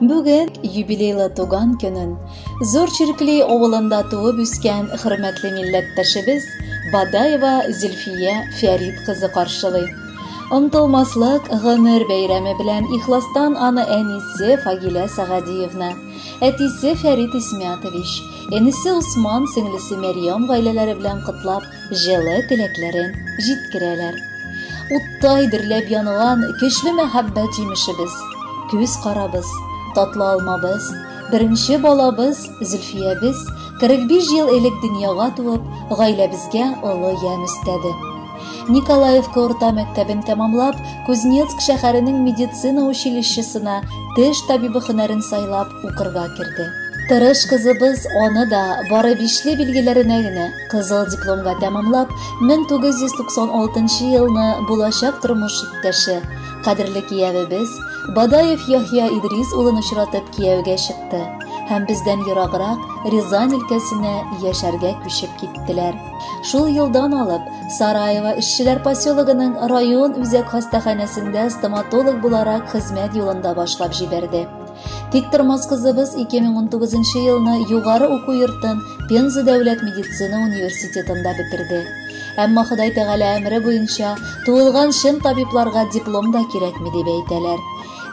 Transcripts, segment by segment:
Бүген юбилейлы туган көнен Зур Черкли авылында туып үскән хөрмәтле милләттәшебез Бадаева Зөлфия Фәрид кызы каршылый. Онтылмаслык гомер бәйрәме белән ихластан аны әнисе Фагилә Сагадиевна, әтисе Фәрид Исмятович, энесе Усман, сеңлесе Мәрьям гаиләләре белән котлап, Җылы теләкләрен җиткерәләр. Уттай дөрләп янган көчле мәхәббәт җимешебез, күз карабыз, татлы алмабыз, беренче балабыз Зөлфиябез 45 ел элек дөньяга туып, гаиләбезгә олы ямь өстәде. Николаевка урта мәктәбен тәмамлап, Кузнецк шәһәренең медицина училищесына теш табибы һөнәрен сайлап укырга керде. Тырыш кызыбыз аны да бары бишле билгеләренә генә Кызыл дипломга тәмамлап, 1996 елны булачак тормыш иптәше, кадерле киявебез Бадаев Яхья Идрис улын очратып кияүгә чыкты һәм бездән ераграк Рязань өлкәсенә яшәргә күчеп киттеләр. Шул елдан алып Сараево эшчеләр поселогының район үзәк хастаханәсендә стоматолог буларак хезмәт юлында башлап җибәрде. Тиктормас кызыбыз 2019 елны югары уку йортын Пенза дәүләт медицина университетында бетерде. Әмма Ходай Тәгалә әмре буенча, туылган чын табибларга диплом да кирәкми дип әйтәләр.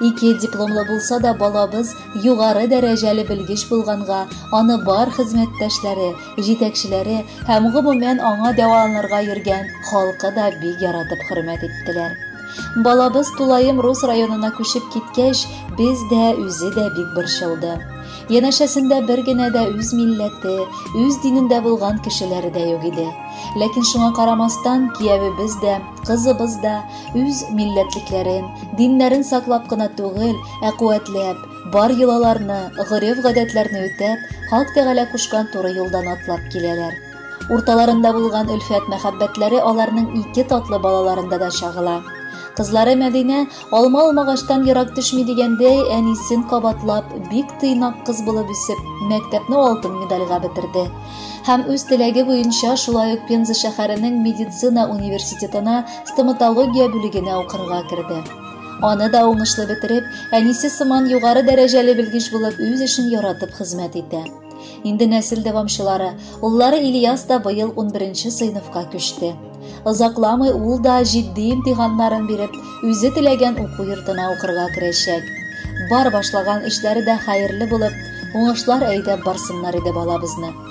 Ике дипломлы булса да балабыз югары дәрәҗәле белгеч булганга, аны бар хезмәттәшләре, Җитәкчеләре һәм гомумән аңа дәваланырга йөргән халкы да бик яратып хөрмәт иттеләр. Балабыз тулаем Рус районына күчеп киткәч, без дә, үзе дә бик борчылды. Янәшәсендә бер генә дә үз милләте, үз динендә булган кешеләре дә юк иде. Ләкин шуңа карамастан, киявебез дә, кызыбыз да үз милләтлекләрен, диннәрен саклап кына түгел, ә куәтләп, Бар йолаларны, гореф-гадәтләрне үтәп, Хак Тәгалә кушкан туры юлдан атлап киләләр. Урталарында булган өлфәт-мәхәббәтләре аларның ике татлы балаларында да чагыла. Кызлары Мәдинә алма алмагаштан ерак төшми дигәндәй, әнисен кабатлап, бик тыйнак кыз булып үсеп, мәктәпне алтын медальгә бетерде. Һәм үз теләге буенча шулай ук Пенза шәһәренең медицина университетына стоматология бүлегенә укырга керде. Аны да уңышлы бетереп, әнисе сыман югары дәрәҗәле белгеч булып үз эшен яратып хезмәт итә. Инде нәсел дәвамчылары, уллары Ильяс да быел 11-нче сыйныфка күчте. Озакламый ул да җитди имтиханнарын биреп, үзе теләгән уку йортына укырга керәчәк. Бар башлаган эшләре дә хәерле булып, уңышлар әйдәп барсыннар иде балабызны.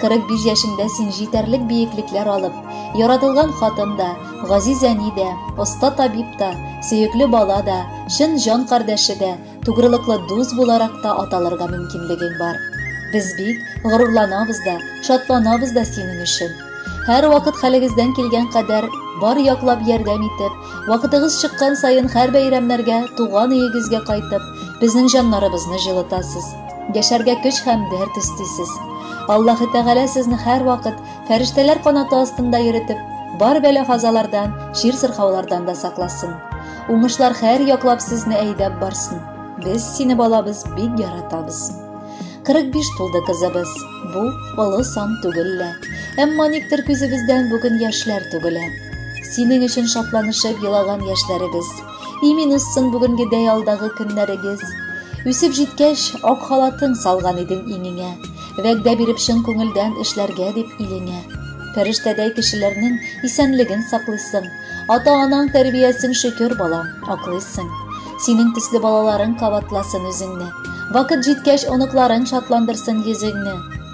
45 яшендә син җитәрлек биеклекләр алып, яратылган хатын да, газиз әни дә, оста табиб та, сөекле бала да, чын җан кардәше дә, тугрылыклы дус буларак та аталырга мөмкинлегең бар. Без бик горурланабыз да, шатланабыз да синең өчен. Һәр вакыт хәлегездән килгән кадәр бар яклап ярдәм итеп, вакытыгыз чыккан саен һәр бәйрәмнәргә туган өегезгә кайтып, безнең җаннарыбызны җылытасыз. Яшәргә көч һәм дәрт өстисез. Аллаһы Тәгалә сезне һәрвакыт фәрештәләр канаты астында йөритеп, бар бәла-казалардан, чир-сырхаулардан да сакласын. Уңышлар һәр яклап сезне әйдәп барсын. Без сине балабыз бик яратабыз. 45 тулды кызыбыз. Бу олы сан түгел лә. Әмма никтер күзебездән бүген яшьләр түгелә. Синең өчен шатланышып елаган яшьләребез. Имин үссен бүгенгедәй алдагы көннәрегез. Үсеп җиткәч, ак халатың салган идең иңеңә. Вәгъдә биреп чын күңелдән эшләргә дип илеңә. Фәрештәдәй кешеләрнең исәнлеген саклыйсың. Ата-анаң тәрбиясен шөкер, балам, аклыйсың. Синең төсле балаларың кабатласын үзеңне. Вакыт җиткәч, оныкларың шатландырсын йөзеңне.